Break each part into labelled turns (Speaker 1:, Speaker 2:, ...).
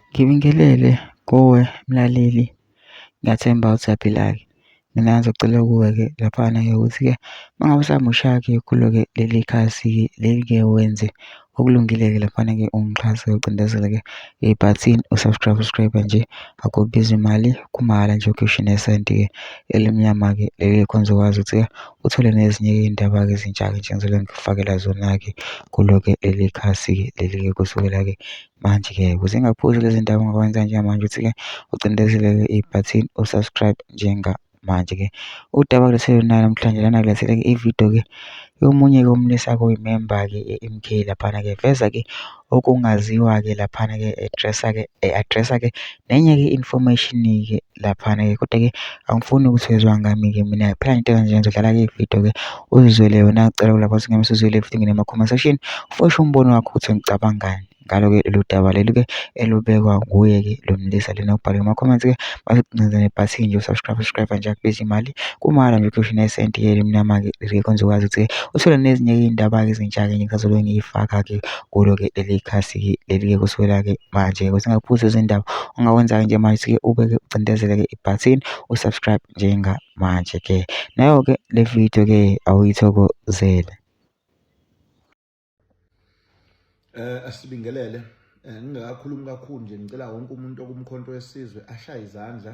Speaker 1: Ngibingelele kuwe mlaleli, ngiyathemba usaphila-ke. Mina ngizocela kuwe-ke laphana-ke ukuthi-ke uma ngabe usamusha-ke kulo-ke leli khasi-ke leli-ke wenze okulungile-ke laphana-ke ungixhase ucindezele-ke ibhathini u-subscribe nje akubizi mali kumahhala nje ukhishwa nesenti-ke elimnyama-ke leli khona uzokwazi ukuthi-ke uthole nezinye iy'ndaba-ke ezintsha-ke njengezinto engikufakela zona-ke kulo-ke leli khasi-ke leli-ke kusukela-ke manje-ke ukuze ingaphuzi lezi ndaba ongakwenza njengamanje ukuthi-ke ucindezeleke ibhathini u-subscribe njengamanje-ke udaba kulethele nayo namhlanje lana kulethele-ke ividiyo-ke yomunye-ke umlisa-ke oyimemba-ke ye-MK laphana-ke veza-ke okungaziwa-ke laphana-ke addressa-ke e-addressa-ke nenye-ke information-ke laphana-ke kodwa-ke angifuni ukuthezwa ngami-ke mina phela into ekanje ngizodlala ke ividiyo-ke uzizwele yona cela kulapho singeme sizwele everything in ama-comment section fosha umbono wakho ukuthi ngicabangani ngalo-ke lolu daba leli-ke elubekwa nguye-ke lo mlisa lena ubhale kuma-comments-ke basecineza nebhathini nje usubscribe subscribe nje akubiza imali kumala nje ukhishwe nesenti ke limnyama-ke ngeke konze ukwazi ukuthi-ke uthole nezinye iy'ndaba-ke ezintsha-ke nje ngisazolwe ngiyifaka-ke kulo-ke leli khasi-ke leli-ke kusukela-ke manje-ke ukuze ungaphuzi izindaba ongakwenza-ke nje manje usuke ubeke ucindezele-ke ibhathini u-subscribe njengamanje-ke nayo-ke le video-ke awuyithokozele
Speaker 2: eh asibingelele eh, ngingakakhulumi kakhulu nje ngicela wonke umuntu okumkhonto wesizwe ashaye izandla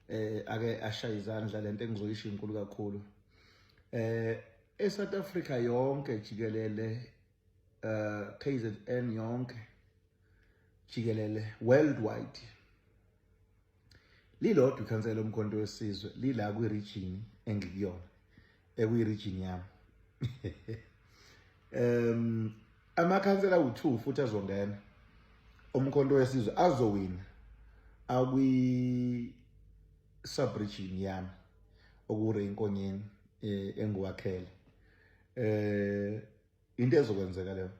Speaker 2: eh ake ashaye izandla lento engizoyisho inkulu kakhulu eh eSouth Africa yonke jikelele uh, KZN yonke jikelele worldwide lilodwa ikhansela lomkhonto wesizwe lila kwi-region engikuyona ekuyi-region yami um amakhansela awu-two futhi azongena umkhonto wesizwe azowina akwi-subregion yami okure inkonyeni eh, engiwakhele um into ezokwenzeka leyo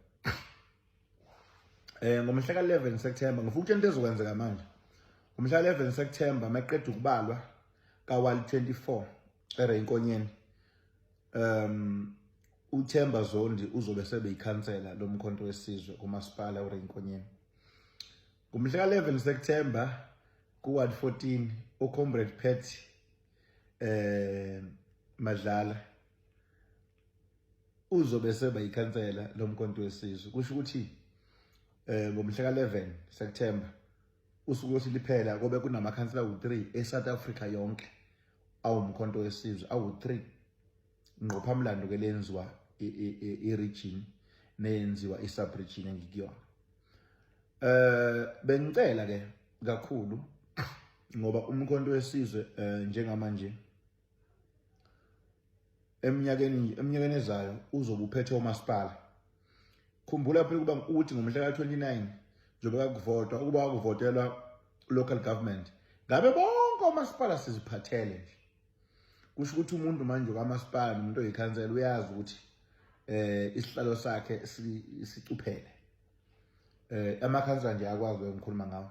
Speaker 2: eh ngomhla ka-11 September ngifuna ukutshela into ezokwenzeka manje ngomhla ka-11 September maqeda ukubalwa kawali 24 eReyinkonyeni um uThemba Zondi uzobe sebeyikhansela lomkhonto wesizwe kumasipala uReyinkonyeni ngomhla ka-11 September kuward 14 ucomrade Pat eh madlala uzobe seba yikhansela lomkhonto wesizwe kusho ukuthi eh ngomhla ka-11 September usuku lothi liphela kobe kunamakhansela awu-3 e-South Africa yonke awumkhonto wesizwe awu-3 ngqophamlando ke lenziwa i-region neyenziwa i-subregion engikuyona eh bengicela ke kakhulu ngoba umkhonto wesizwe eh, njengamanje eminyakeni eminyakeni ezayo uzobe uphethe umasipala khumbula phela ukuba uthi ngomhla ka-29 njengoba kakuvotwa ukuba wakuvotelwa local government ngabe bonke omasipala siziphathele nje kusho ukuthi umuntu manje kamasipala nomuntu oyikhansela uyazi ukuthi eh isihlalo sakhe sicuphele eh amakhansela nje akwazi ukukhuluma ngawo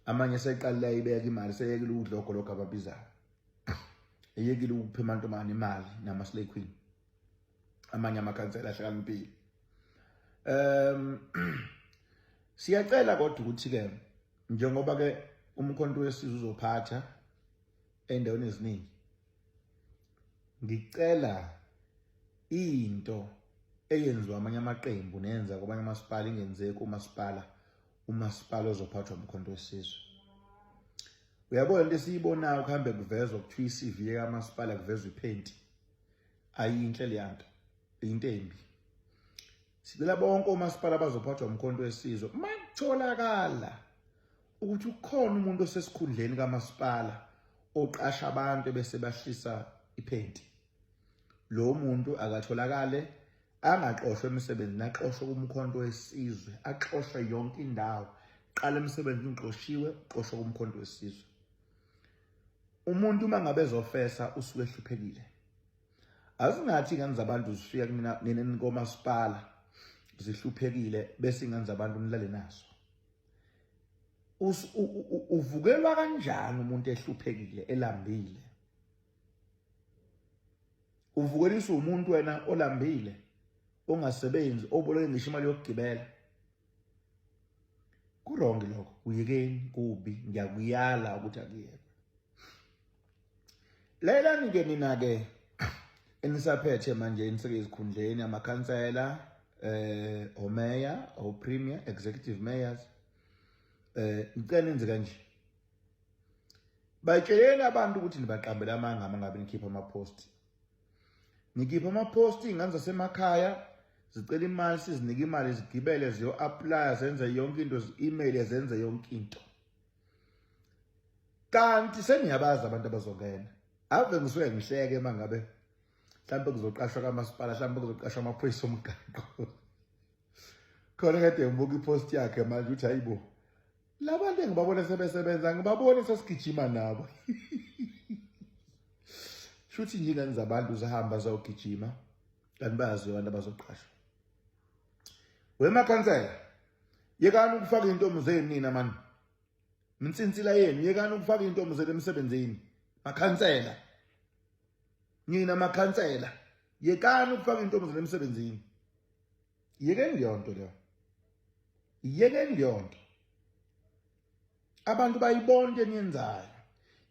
Speaker 2: amanye seqalile ayibeka imali seyekile ukudla ogologo ababizayo eyekile ukupha amantombazane imali nama slay queen amanye amakhansela ahlakaniphile um siyacela kodwa ukuthi ke njengoba ke umkhonto wesizwe uzophatha endaweni eziningi ngicela into eyenziwa amanye amaqembu nenza kwabanye amasipala ingenzeki umasipala umasipala ozophathwa umkhonto wesizwe uyabona into esiyibonayo kuhambe kuvezwa kuthiwa i-cv yekamasipala kuvezwa iphenti ayinhle leya nto into embi sicela bonke omasipala abazophathwa umkhonto wesizwe uma kutholakala ukuthi ukhona umuntu osesikhundleni kamasipala oqasha abantu bese bahlisa iphenti lo muntu akatholakale angaxoshwa emsebenzini axoshwe kumkhonto wesizwe axoshwe yonke indawo qala emsebenzini uxoshiwe uxoshwe kumkhonto wesizwe umuntu uma ngabe ezofesa usuke ehluphekile azingathi ingane zabantu zifika kumina nina nikomasipala zihluphekile bese ingane zabantu nilale nazo uvukelwa kanjani umuntu ehluphekile elambile uvukeliswa umuntu wena olambile ongasebenzi oboleke ngisho imali yokugibela kurongi lokho kuyekeni kubi ngiyakuyala ukuthi akuyeke lalelani ke nina ke enisaphethe manje eniseke ezikhundleni amakhansela eh omeya opremier executive mayors eh ngicela enze kanje batsheleni abantu ukuthi nibaqambele amanga uma ngabe nikhipha amaphosti nikhipha amaphosti iy'ngane zasemakhaya zicela imali sizinike imali zigibele ziyo-aplaya zenze yonke into zi-email zenze yonke into kanti seniyabazi abantu abazongena ave ngisuke ngihleke uma ngabe mhlawumbe kuzoqashwa kamasipala mhlawumbe kuzoqashwa amaphoyisa omgaqo khona kade ngibuka ipost yakhe manje ukuthi hayibo labantu engibabona sebesebenza ngibabone sesigijima nabo shuthi nje ingane zabantu zihamba zawugijima kanti bayaziwa abantu abazoqashwa wemakhansela yekani ukufaka intombi zenu nina mani minsinsila yenu yekani ukufaka intombi zenu emsebenzini makhansela nina makhansela yekani ukufaka intombi zenu emsebenzini yekeni leyonto leyo yekeni leyonto abantu bayibona into eniyenzayo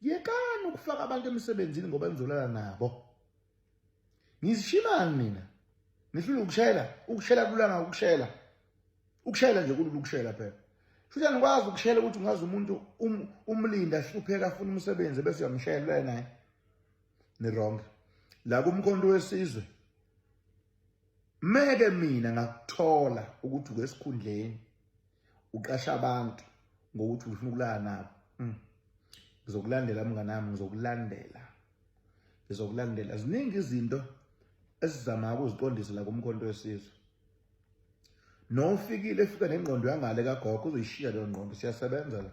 Speaker 2: yekani ukufaka abantu emsebenzini ngoba nizolala nabo ngizishimani mina ngihlula ukushela ukushela kulanga ukushela ukushela nje kulula ukushela phela futhi anikwazi ukushela ukuthi ungazi umuntu um, umlinda hlupheka afuna umsebenzi bese uyamshela naye ni wrong la kumkhonto wesizwe meke mina ngakuthola ukuthi ukwesikhundleni uqasha abantu ngokuthi ufuna ukulala nabo mm. ngizokulandela mnganami ngizokulandela ngizokulandela ziningi izinto esizama ukuziqondisa la kumkhonto wesizwe nofikile efika nengqondo yangale kagogo uzoyishiya leyo ngqondo siyasebenza la